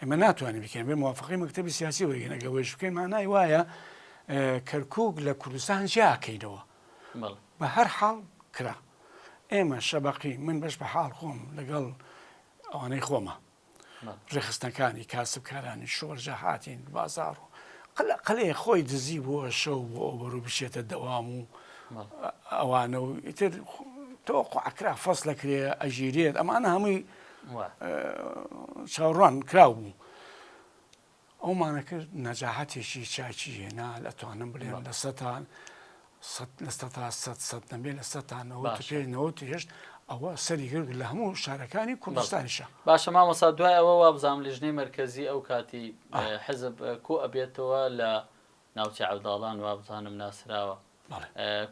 ئێمە ناتوانین بکەین بێ موافقی مەکتەبی سیاسی وەرگین ئەگە وێش بکەین مانای وایە کەرکک لە کوردستان جیاکەینەوە بە هەر حاڵ کرا ئێمە شەبقی من بەش بە حاڵ خۆم لەگەڵ ئەوانەی خۆمە ڕێخستنەکانی کاسبکارانی شۆرجە هاتین بازار و قەلێ خۆی دزی بووە شەو بۆ ئەوبەر و بشێتە دەوام و ئەوانە و ئیتر تۆ قعکرا فەس لە کرێ ئەژیرێت ئەمانە هەمووی چاوەڕوان کراو بوو ئەومانە کرد نەجاهەتێکی چاکی هێنا ئەتوانم بلێن لە سەتان لە سەتا سە سەد نەبێ لە سەتانەوە پێنەوە هێشت ئەوە سەری گرد لە هەموو شارەکانی کوردستانیشە باشە مامەسا دوای ئەوە وابزانام لیژنەی مرکزی ئەو کاتی حزب کۆ ئەبێتەوە لە ناوچە عەوداڵان وابزانم ناسراوە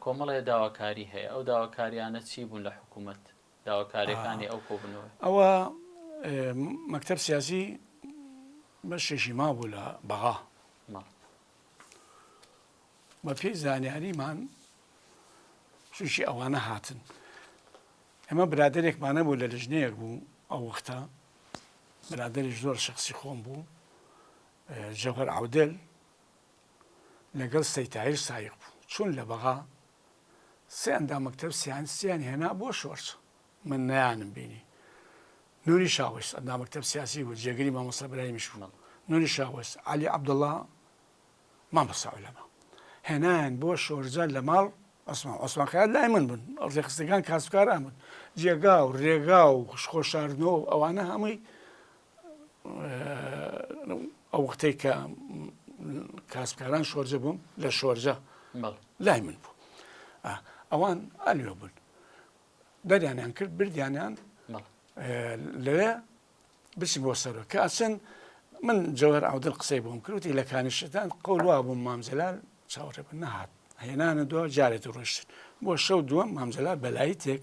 کۆمەڵێ داواکاری هەیە ئەو داواکاریانە چی بوون لە حکوومەت داواکاریەکانی ئەو کۆبونەوەی. ئەوە مەکتەب سیاسی بەشێکی مابوو لە بەغا بە پێی زانیاریمان چوشی ئەوانە هاتن ئەمە برادێکمانە بوو لە لژنەیەک بوو ئەو وەختە برادری زۆر شخصی خۆم بوو جەوهر عودل لەگەڵ سەیتایر سایق بوو چون لە بەغا سێ ئەندام مەکتەب سیانسیان هێنا بۆ شۆرچ من نەیانم بینی نوری شاوس ئەندام مەکتەب سیاسی بوو جێگری مامۆستا براهیمی شوونڵ نوری شاوس علی عبدالله مامۆستا عولەما هێنایان بۆ شۆرجە لە ماڵ عوسمان عوسمان خەیات لای من بوون ڕێخستەکان کاسبکاران بوون جێگا و ڕێگا و خوشخۆشاردنەوە ئەوانە هەمووی ئەو وختەی کە کاسبکاران شۆرجە بووم لە شۆرجە لای من بوو ئەوان ئەلوێ بوون دەریانیان کرد بردیانیان لەوێ بچین بۆ سەرۆ کە ئەچن من جەوەر ئەودل قسەی بۆم کروتی لە کانیشتان قەولوا بووم مامجلال چاوەڕێ بن نهات هێنانە دو جارێت ڕۆشتن بۆ شەو دووەم مامجلال بەلایی تێک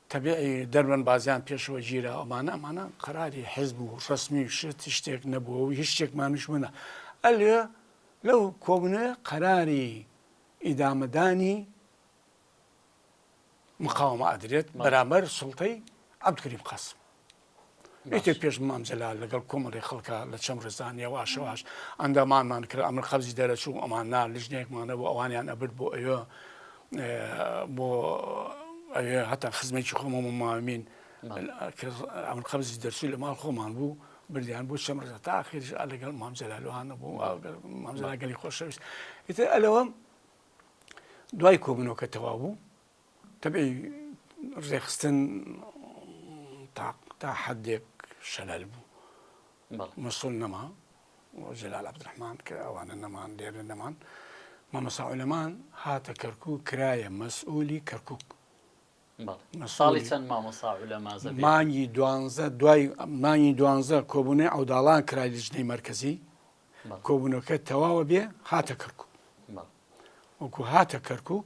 تەبعی دەربەن بازیان پێشەوە گیرا ئەمانە ئەمانە قەراری حزب و ڕسمی و شت شتێک نەبووە و هیچ شتێکمانش منە ئەلێ لەو کۆبنێ قەراری ئیدامەدانی مقاومە ئەدرێت بەرامبەر سڵتەی عبدکریم قاسم ئیتر پێش مام جەلال لەگەڵ کۆمەڵی خەڵکا لە چەم ڕێزان یەواشەواش ئەندامانمان کرد ئەمر قەبزی دەرەچوو ئەمان نا لژنێکمانە بۆ ئەوانیان ئەبرد بۆ ئەوێ بۆ ئەوێ هەتا خزمێکی خۆمەمە مامین ئەمر قەبزی دەرچوو لە ماڵ خۆمان بوو بردیان بۆ چەم ڕێزە تا خێژ لەگەڵ مام جەلالوانە بوو مامزەلاگەلی خۆشەویست ئیتر ئەلەوەم دوای کۆبنەوەکە تەوا بوو تەبعی ڕێکخستن تا حەدێک شەلەل بوو مەسول نەما جەلال عبدرحمان کە ئەوانە نەمان دێرە نەمان مامەساعولەمان هاتە کەرکک کرایە مەسئولی کەرکک ساڵی چەند مامۆسا لەمازە مانگی دوانزە دوای مانگی دوانزە کۆبوونەی ئەوداڵان کرای لیژنەی مرکزی کۆبوونەکە تەواوە بێ هاتە کەرکک وەکو هاتە کەرکک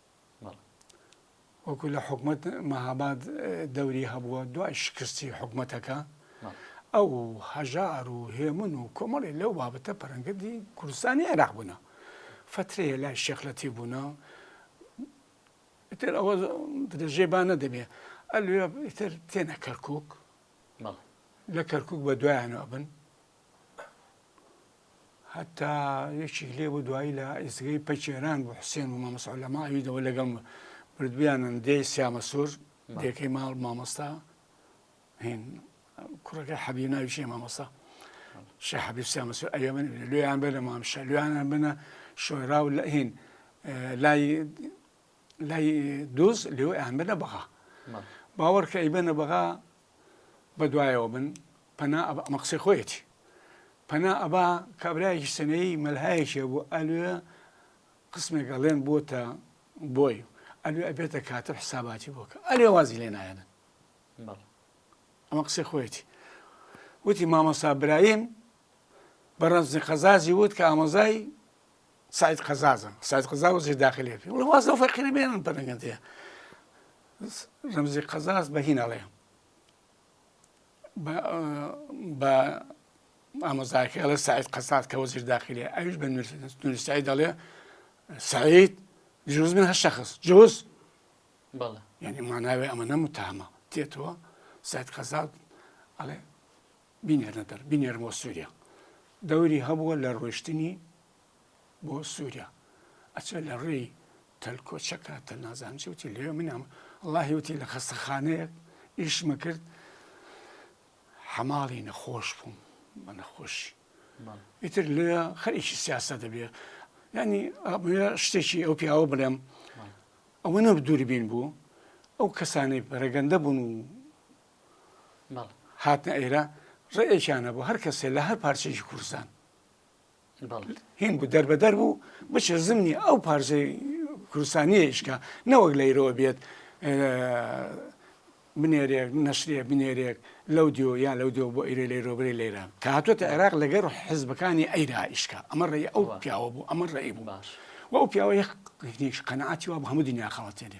وەکو لە حکومەت مەهاباد دەوری هەبووە دوای شکستی حکومەتەکە ئەو هەژار و هێمن و کۆمەڵی لەو بابەتە پەرەنگردی کوردستانی عێراق بوونە فترەیە لای شێخلەتی بوونە تر ئەوە بدەژێ با نەدەبێ ئەلێ تر تێنە کەرکک لە کەرکک بە دوایانەوە بن هەتا یەکیک لێ بۆ دوایی لە ئێستگەی پەکێران بۆ حوسێن و مامەسا لە ماویدەوە لەگەڵ بردویانن دێ سیامە سوور دێکەی ماڵ مامۆستا هین کوڕەکە حەبی ناوی شێ مامۆستا شە حەبی سیامە سوور ئەوێ من لێیان بێ لە مام شە لێیانە بنە شۆرا و لە هین لای لای دوز لێو ئەیان بنە بەغا باوەڕکە ئەی بنە بەغا بەدوایەوە بن پەنا ئەبا ئەمە قسەی خۆیەتی پەنا ئەبا کابراایەکی سنەیی مەلهایەکێ بۆ ئەلوێ قسمێک ئەڵێن بۆتە بۆی ئەلوێ ئەبێتە کاتە حساباتی بۆکە ئەلێ وازی لێ نایەنن ئەمە قسەی خۆیەتی وتی مامەسا برایم بە ڕەنجی قەزازی وت کە ئامۆزای سعید قەزازم سعید قەزا وەزیر داخلی پێ وڵە واز لەو فەقیرە بێنن پەرەگەندەیە ڕمزی قەزاز بە هینەڵێ بە ئامۆزاکە ئەڵێ سعید قەزات کە وەزیر داخلی ئەوش بە نووسایی دەڵێ سعید جوز من هە شخص جوز بەڵێ یعنی ماناوێ ئەمە نەمتامە تێتەوە سعید قەزات ئەڵێ بینێرنە دەر بینێرن بۆ سووریا دەوری هەبووە لە ڕۆشتنی بۆ سووریا ئەچێ لە ڕێی تەلکۆچەکە تە نازانچی وتی لێ منام اللهی وتی لە خەستەخانەیەک ئیشمە کرد حەماڵی نەخۆش بووم بە نەخۆشی ئیتر لێ خەریکی سیاسە دەبێ ینی شتێکی ئەو پیاوە بڵێم ئەوە نە دووربین بوو ئەو کەسانی پەرەگەندە بوون و بەڵێ. هاتنە ئێرە ڕێیەکیان هەبوو هەر کەسێ لە هەر پارچەیەکی کوردستان بەڵێ. هین بوو دەربەدەر بوو بچێ زمنی ئەو پارچەی کوردستانیە ئیشکا نەوەک لە ئیرەوە بێت بنێرێک نەشرێ بنێرێک لەو دیۆ یان لەو دیۆ بۆ ئیرە لێرۆبرێ لێرە کە هاتوێتە عێراق لەگەر حزبەکانی ئەیرا ئیشکا ئەمە ڕێی ئەو پیاوە بوو ئەمە ڕێی بوو باش و ئەو پیاوە یەک قەنەعاتی وا بوو هەموو دنیا خەڵەتێنێ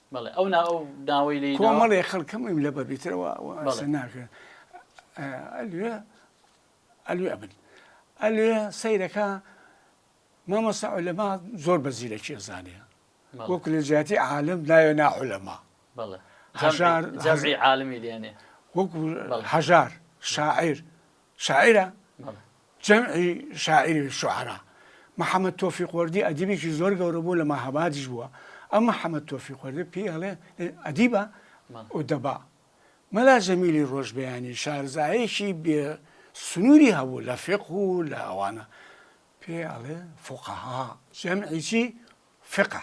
بەڵێ ئەو نا ئەو داوای لێ کۆمەڵێ خەڵکەمەیم لە بەبیترەوە ناکرێن ئەلوێ ئەلوێ بن ئەلوێ سەیرەکە مامەسا لەما زۆر بە زیرەکی زانێ وەکو لە جیاتی عالم ناوێ ناحولەما هەژار عالمی لێنێ وەکو هەژار شاعیر شاعیرە؟ بەڵێ. جەمعی شاعیری الشعراء. محەمەد تۆفیق وەردی ئەدیبێکی زۆر گەورە بوو لە مەهابادیش بووە. ئەم محەمەد تۆفیق وەردە پێی ئەڵێ ئەدیبە؟ بەڵێ. ئودەبا. مەلا جەمیلی ڕۆژبەیانی شارزایەکی بێ سنووری هەبوو لە فیقه و لە ئەوانە. پێی ئەڵێ فقهاء. جەمعی چی؟ فقە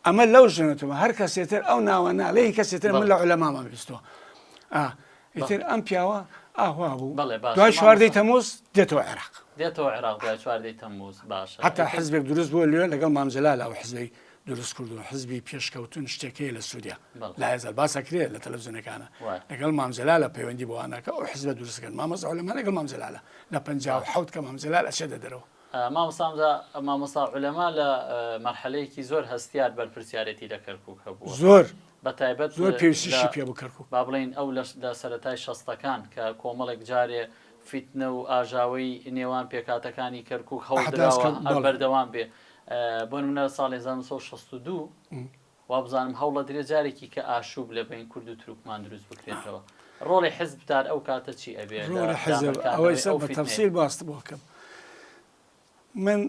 ئەمە لەو ژنەتەوە هەر کەسێ تر ئەو ناوە ناڵێ هی کەسێ تر من لە عولەمامە بیستوە ئا ئیتر ئەم پیاوە ئاوا بوو بەڵێ باشە، دوای مامۆستا. چواردەی تەموز دێتەوە عێراق دێتەوە عێراق دوای چواردەی تەموز باشە حتا ئیتر حزبێک دروست بووە لێ لەگەڵ مام جەلال ئەو حزبەی دروست کردووە حزبی پێشکەوتن شتێک هەیە لە سووریا بەڵێ. لە هەزار باسەکرێ لە تەلەڤزیۆنەکانە وایە. لەگەڵ مام جەلالە پەیوەندی بۆ ئەناکە ئەو حزبە دروست کرد مامۆستا عولەما لەگەڵ مام جەلالە لە 57 کە مام جەلال ئەچێتە دەرەوە مامۆستا ئەمجا مامۆستا عولەما لە مەرحەلەیەکی زۆر هەستیار بەرپرسیارێتی لە کەرکوک هەبووە زۆر بە تایبەت زۆر پێویستیشی پێ بوو کەرکوک با بڵێین ئەو لە لە سەرەتای شەستەکان کە کۆمەڵێک جارێ فیتنە و ئاژاوەی نێوان پێکهاتەکانی کەرکوک هەوڵدراوە ئەحداس کە بەڵێ بەردەوام بێ بۆ نمونە ساڵی هەزار و نۆ سەد و شەست و دوو وابزانم هەوڵەدرێ جارێکی کە ئاشوب لە بەین کورد و تروکمان دروست بکرێتەوە ڕۆڵی حزب تار ئەو کاتە چی ئەبێ ڕۆڵی حزب ئەوەی سەر بە تەفسیر باست بۆ کەم من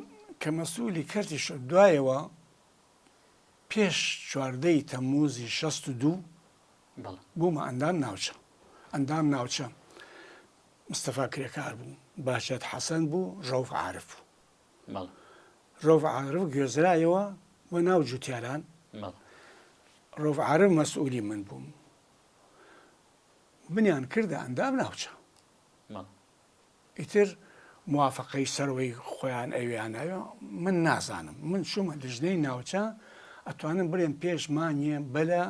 کە مەسوولی کەرتی شەر دوایەوە پێش چواردەی تەموزی شەست و دوو بوومە ئەندام ناوچە ئەندام ناوچە مستەفا کرێکار بوو باشێت حەسەن بوو ڕەوف عاعرف بوو مەڵێ. رەوف عارف گوێزرایەوە بۆ ناو جووتیاران. مەڵێ. رەوف عارف مەسئوولی من بوو. منیان کردە ئەندام ناوچە. مەڵێ. ئیتر موافقەی سەرەوەی خۆیان ئەوێیان ناوێ من نازانم من چوومە لیژنەی ناوچە ئەتوانم بڵێم پێش مانگێ بەلە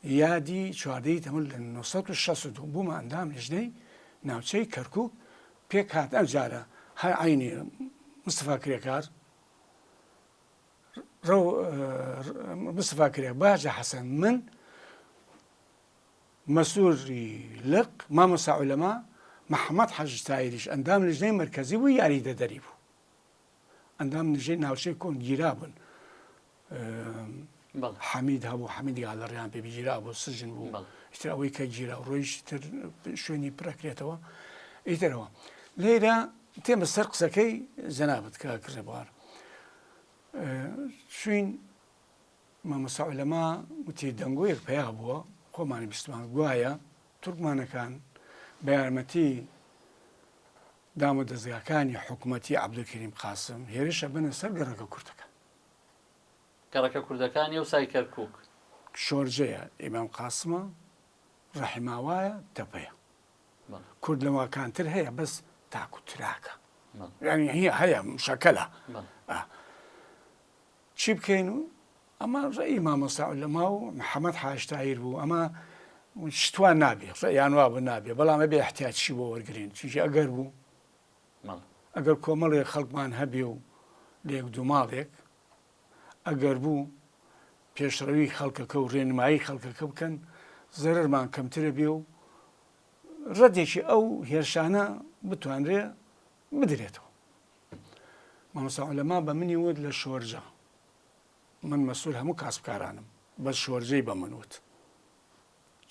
یادی چواردە ی تەموز لە نۆ سەد و شەست و دوو بوومە ئەندام لیژنەی ناوچەی کەرکووک پێک هات ئەم جارە هەر عەینی مستەفا کرێکار ڕەو مستەفا کرێک باجە حەسەن من مەسووری لق مامۆسا عولەما محەممەد حەج تایریش ئەندام لیژنەی مرکزی بوو یاری دەدەری بوو ئەندام نژەی ناوچەی کۆن گیرا بوون حەمید هەبوو حەمید گالەڕیان پێ بگیرا بۆ سژن بوو ئیتر ئەوەی کە گیرا ڕۆیش تر شوێنی پرەکرێتەوە ئیترەوە لێرە تێمە سەر قسەکەی جەنابەت کە کڕێبوار شوین مامەسا لەما وتی دەنگۆیەک پیا بووە خۆمانی بیستمان گوایە تورکمانەکان بە یارمەتی دامە دەزگاکانی حکومەتی عەبدولکەریم قاسم هێرش ئەبەنە سەر گەڕەکە کوردەکان. گەڕەکە کوردەکان یەوسای کەرکوک. شۆرجەیە، ئیمام قاسمە، ڕەحیماوایە، تەپەیە. کورد لەوەکانتر هەیە بەس تاک و تراکە. یانی هەیە مشەکەلە. چی بکەین و ئەمە ڕێی مامۆستا عولەما و محەمەد حاج تاهیر بوو ئەمە شتوان نابێ ڕێیان وا بوو نابێ بەڵام ئەبێ احتیاجی بۆ وەرگرین چونکی ئەگەر بوو ئەگەر کۆمەڵێک خەڵکمان هەبێ و لە یەک دوو ماڵێک ئەگەر بوو پێشڕەوی خەڵکەکە و ڕێنمایی خەڵکەکە بکەن زەرمان کەمترە بێ و ڕەدێکی ئەو هێرشانە بتوانرێ بدرێتەوە مامۆستا عولەما بە منی وت لە شۆرجە من مەسول هەموو کاسبکارانم بەس شۆرجەی بە من وت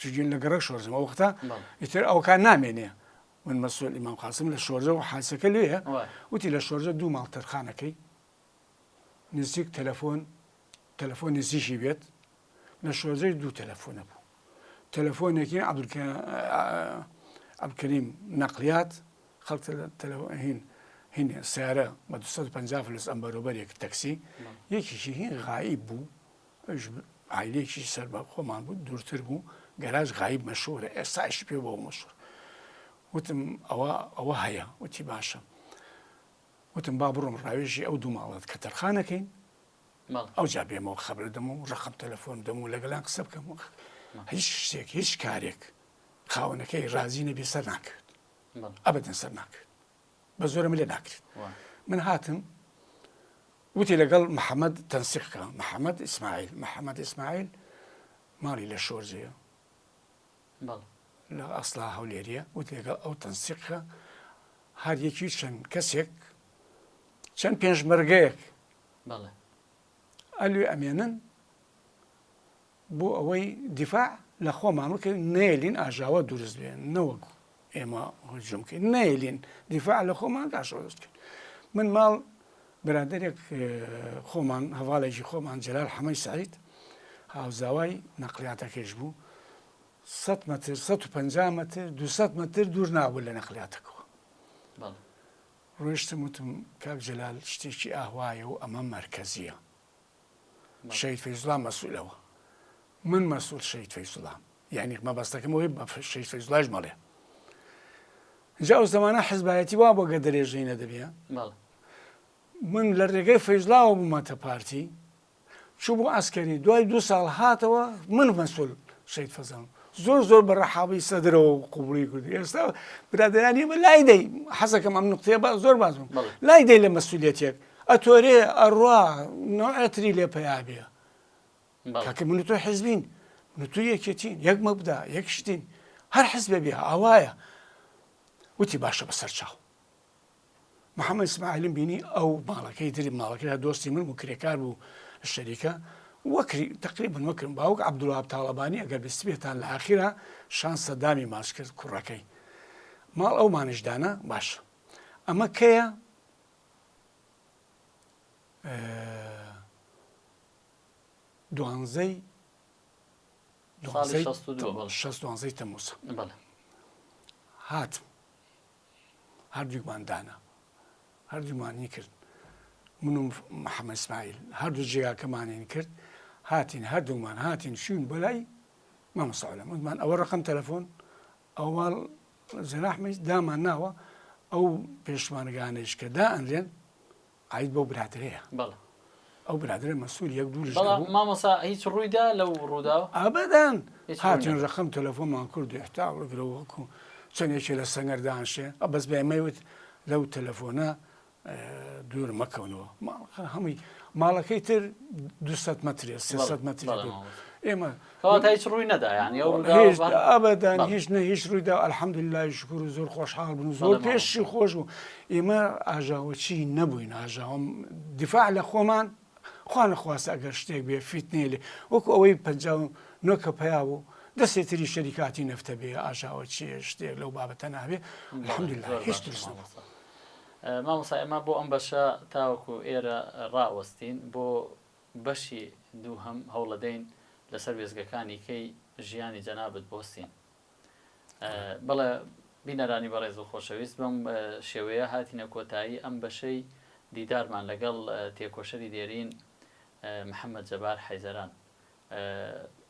چجون لە گەڕک شۆرجم ئەو وختە ئیتر ئەوکان نامێنێ من مەسول ئیمام قاسم لە شۆرجە و حاسەکە لێە وتی لە شۆرجە دوو ماڵ تەرخانەکەی نزیک تەلەفۆن تەلەفۆن نزیکی بێت لە شۆزەی دوو تەلەفۆنە بوو تەلەفۆنێکی عبدکەریم نەقلیات خەڵ تەلەهین هین سیارە بە 250 فلس ئەم بەرۆبەرێک تەکسی یەکیشی هین غایی بوو عیلێکی سەر بە خۆمان بوو دوورتر بوو گەراج غایب مەشورە ئێستاش پێ بۆ مەشور وتم ئەوە ئەوە هەیە وتی باشە وتم با بڕۆم ڕاوێژی ئەو دوو ماڵەت کە تەرخانەکەین ئەوجا بێمەوە خەبردەم و ڕقم تەلەفۆن دەم و لەگەلان قسە بکەم و هیچ شتێک هیچ کارێک خاوەنەکەی ڕازی نەبی سەر ناکرد ئەبدن سەر ناکرد بە زۆرم لێ ناکرێت من هاتم وتی لەگەڵ محەممەد تەنسیقکە محەممەد ئیسماعیل محەممەد ئیسماعیل ماڵی لە شۆرجەیە بەڵێ. لە ئەسڵا هەولێریە وت لەگەڵ ئەو تەنسیقە هەر یەکی چەند کەسێک چەند پێنجمەرگەیەک بەڵێ ئەلوێ ئەمێنن بۆ ئەوەی دیفاع لە خۆمان بکەین نێلین ئاژاوە دروست بێن نەوەک ئێمە هجوم کەین نەیلین دیفاع لە خۆمان داشۆست کرد من ماڵ برادێک خۆمان هەواڵێکی خۆمان جلال حەمەی سعید هاوزاوای نەقلیاتەکەش بوو 100 متر 150 متر 200 متر دوور نابوو لە نەقلیاتەکەەوە ڕۆشتم وتم کاک جلال شتێکی ئاهوایە و ئەمە مرکزیە شەهید فەیزوڵا مەسولەوە من مەسول شەهید فەیزوڵام یعنی مەبەستەکەم ئەوەی بە شەهید فەیزوڵاش مەڵێ جا ئەو زمانە حزبایەتی وا بۆ گە درێژەی نەدەبێ من لە ڕێگەی فەیزلاوە بوومەتە پارتی چوو بۆ ئەسکەری دوای دو ساڵ هاتەوە من مەسول شەید فەزان زۆر زۆر بە ڕەحاڵی سەدرەوە و قوبڵی کردی ئێستا برادرانی بە لای دەی حەزەکەم ئەم نقطەیە بە زۆر بازم لای دەی لە مەسوولەتێک ئەتۆرێ ئەڕا نەوعێ تری لێ پەیا بێ کاکە من و تۆ حیزبین من و تۆ یەکێتین یەک مەبدا یەک شتین هەر حیزبێ بێ ئاوایە وتی باشە بەسەر چاو محەممەد ئیسماعیلم بینی ئەو ماڵەکەی دری ماڵەکەدا دۆستی من و کرێکار بوو شەریکە وەکری تقریبن وەکرم باوک عبدوڵاب تاڵەبانی ئەگەر بستبێتان لە ئاخیرا شان سەدامی ماچ کرد کوڕەکەی ماڵ ئەو مانشدانە باشە ئەمە کەیە دوانزەی دوانزەی تەموز هاتم هەردووکمان دانا هەردوومانی کرد من و محەممە سمایل هەردوو جێگاکەمانین کرد هاتین هەردوومان هاتین شوون بەلای مامەساالە منمان ئەوە ڕقم تەلەفۆن ئەوان جەناحمەی دامان ناوە ئەو پێشمەرگانەیش کە دائەنرێن عید بەو برادرەیە بەڵێ ئەو برادرە مەسوول یەک دوو لەش بەڵام نەبوو. مامۆسا هیچ ڕوویدا لەو ڕوودا ئابدان هیچ هاتن ڕوونی ڕقم تەلەفۆنمان کرد و هێشتا وەگرە وەکو چەندێکی لە سەنگەر دانشێ ئە بەس بەمەوت لەو تەلەفۆنە دوور مەکەونەوە هەمووی ماڵەکەی تر دو مترێ سێ متر ئێمە کەواتە هیچ ڕووی نەدایانی ئەبدان هیچ نە هیچ ڕوویدا ئەلحەمد لای شکر و زۆر خۆشحاڵ بن زۆر پێشی خۆش بوو ئێمە ئاژاوەچی نەبووین ئاژاوم دیفاع لە خۆمان خوان خواست ئەگەر شتێک بێ فیتنێ لێ وەکو ئەوەی پ نۆکە پیا بوو دەستی تری شەریکاتی نەفتە بێ ئاژاوە چێ شتێک لەو بابەتە نابێ الحمد لله هیچ ترس نەبوو. مامۆستا ئێمە بۆ ئەم بەشە تاوەکو ئێرە ڕائوەستین بۆ بەشی دووهەم هەوڵەدەین لەسەر وێزگەکانی کەی ژیانی جەنابت بۆستین بەڵێ بینەرانی بەڕێز و خۆشەویست بەم شێوەیە هاتینە کۆتایی ئەم بەشەی دیدارمان لەگەڵ تێکۆشەری دێرین محەممەد جەبار حەیزەران